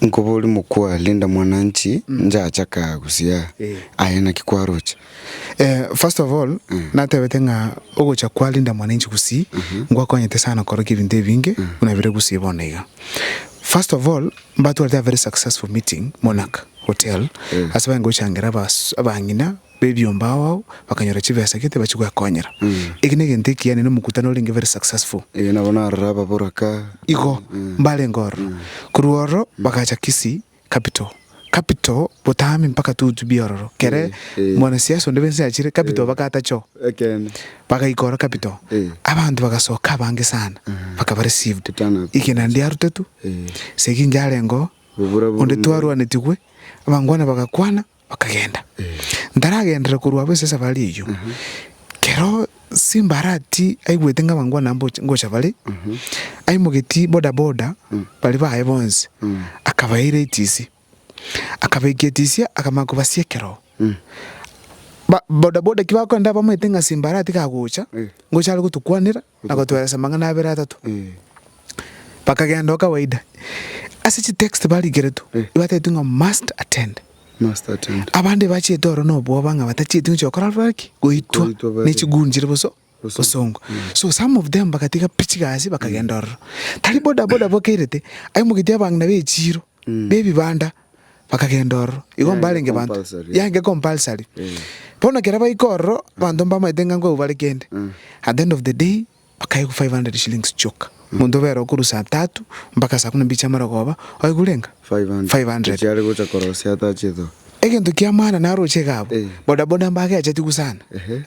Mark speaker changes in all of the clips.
Speaker 1: Nkobori mokwa, Linda mwananchi, njacha ka gusii aa. Aye naki kwaroche? Eh, first
Speaker 2: of all, natebete ng'a ogocha kwa Linda mwananchi gusii, ngwakonyete sana korokia ebinto ebinge, buna bire gusii bono iga. First of all, mbatwarete a very successful meeting, Monarch Hotel, ase bare ngochangera abas, abang'ina, b'ebiombe ao ao bakanyora chibesa gete bachie gwekonyera. Eke negento ekiya ne nomokutano orenge very successful. Eeh nabo narora
Speaker 1: ababoraka. Igo,
Speaker 2: mbarenge ororo. Korwa ororo bagacha Kisii capital. Capital botambi mpaka tu to be ororo. Kere mwanasiasa onde bw'ense achire capital bagaata choo. Ekeene. Bagaika ororo capital. Abanto bagasoka abange sana. Bakaba received. Igena ndiarutetwe. Segi inche arenge oo. Onde twarwanetigwe. Abangwana bagakwana. Bakagenda. Ntaragenderera korwa abwo ase esafari eyio, kero Simba aratie aigwete ng'a abanto buna mboche ngocha bare, aimogetie boda boda baria baye bonsi, akabaira etisi. Akabekia etisi akamanya kobasia ekeroo. Ba boda boda ki bakogenda bamanyete ng'a Simba aratie kagocha, ngocha are gotukwanera, Nagotweresa amang'ana abere atato. Bakagenda o kawaida. Ase chitext barigeretwe, ibatetwe ng'a must attend. Abande bachiete oro nobwoba ng'a batachieti gochia gokora rora ki? Goitwa ne chigunjiri boso bosongo. So some of them bagatiga pi chigasi bakagenda ororo. Tari bodaboda bokeirete, aye mogeti abang'ina b'echiiro. b'ebibanda bakagenda ororo. Igo mbarenge banto, yaenge compulsory. Bono ekero baika ororo, abanto mbamaete ng'a nkwegwa bare kende. At the end of the day, bakaegwa five hundred shillings chioka. Omonto obe ororo korwa saa tatu mpaka saa kumi na mbili chia amarogoba, oegwa renge? Five hundred. Echi are gocha korosia
Speaker 1: atache iga. Egento kia maana
Speaker 2: naroche iga abwo, bodaboda mbageachetigwe sana,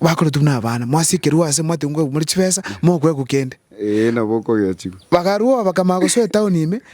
Speaker 2: bakoretigwe na abana, mwasikerigwe aase mwatigwe nkwegwa more chibesa, mokwegwa kende. Ee, nabo okogeachigwa.
Speaker 1: Bakarua oo bakamanya
Speaker 2: gosoa etown ime.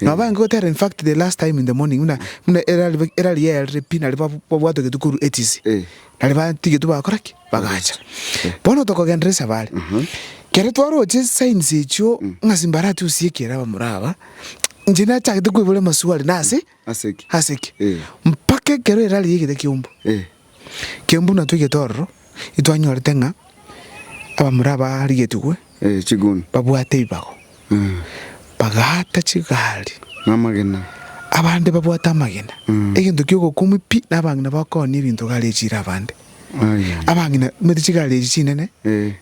Speaker 2: Nabo bayange gotera in fact the last time in the morning buna buna erari erari yaerire pi nari ba- babwatwe getwe korwa etisi Eh. nari batigetwe bakora ki bagacha bono tokogenderera ase abare kere twaroche signs echio ng'a simbarati gosia ekiera abamura aba inche nachagete koiboria maswali nase Ase ki? Ase ki? Mpaka ekero erarigie egete ki'eumbu. Ki'eumbu natwegete ororo, itwanyorete ng'a abamura abarigetigwe
Speaker 1: babwate ebibago,
Speaker 2: bagaata chigari,
Speaker 1: abande
Speaker 2: babwate amagena, egento ki'ogokumia pi, na abang'ina bakooni ebinto garechiire abande. abang'ina omanyete chigari echi chinene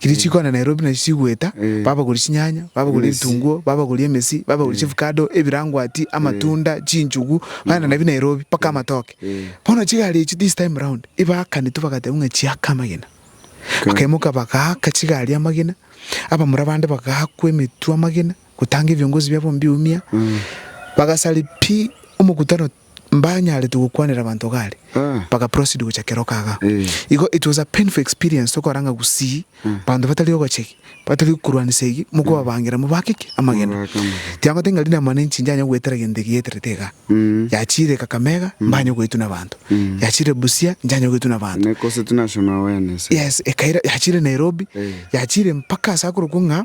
Speaker 2: chiria chikogenda Nairobi nachio chigweta babagoria chinyanya babagoria ebitunguo babagoria emesi babagoria chiavocado ebirangwati amatunda chinchugu bagenda nabio Nairobi mpaka amatoke bono chigari echi this time round ebaakanetwe bagateba ng'a chiaka amagena bakaimoka bagaaka chigari amagena abamura bande bagaakwa emetwe amagena. gotanga ebiongozi biabo mbiumia, bagasari pi omokutano mbanyarete gokwanera abanto gare, baga proceed gocha kero kaga. Igo it was a painful experience tokora ng'a gusii abanto batari ogocha egi, batari okorwanisa egi, mokobabangera mobake ki? Amagena. Tiagote ng'a riria mwane nchinche yanya goetera egento eki yaeterete igaa, yachiire Kakamega mbanye goetwa nabanto, yachiire Busia nchanye goetwa nabanto,
Speaker 1: yes, ekaira, yachiire
Speaker 2: Nairobi, yachiire mpaka ase akorokwa ng'a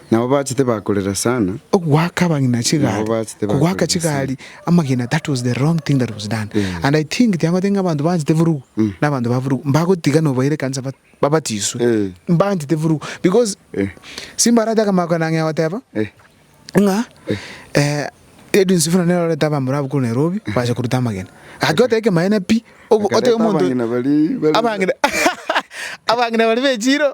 Speaker 2: Nabo
Speaker 1: bachete bakorera sana. Ogoaka abagina
Speaker 2: chigari, kogoaka chigari amagena that was the wrong thing that was done and I think tiagote ng'a abanto banchete eburugu na abanto ba burugu mbagotiga nobaira ekanisa babatiswe mbanchete eburugu because simbarate akamaro kane ang'e goteba ng'a Radio Nsifuna nero erorete abamura abwo korwa Nairobi bache koruta amagena gaki goteba ekemaene pi ogo otebi omonto abang'ina baria abang'ina baria bechire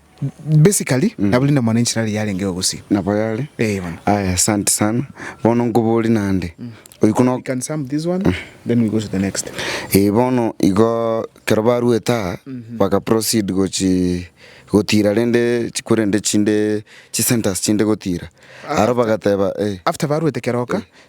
Speaker 2: Basically, mm. nabuli ndomo nenchira ari yarenge ogusi. Nabo yare. Eh,
Speaker 1: bana. Aya, asante
Speaker 2: sana.
Speaker 1: Bono nkobori nande. Mm. Oiko no can
Speaker 2: sum this one, mm. then we go to the next. Eh, bono
Speaker 1: igo kero barueta mm -hmm. baka proceed gochi gotira rende chikurende chinde chi centers chinde gotira. Aro bagateba eh. After baruete
Speaker 2: keroka, eh.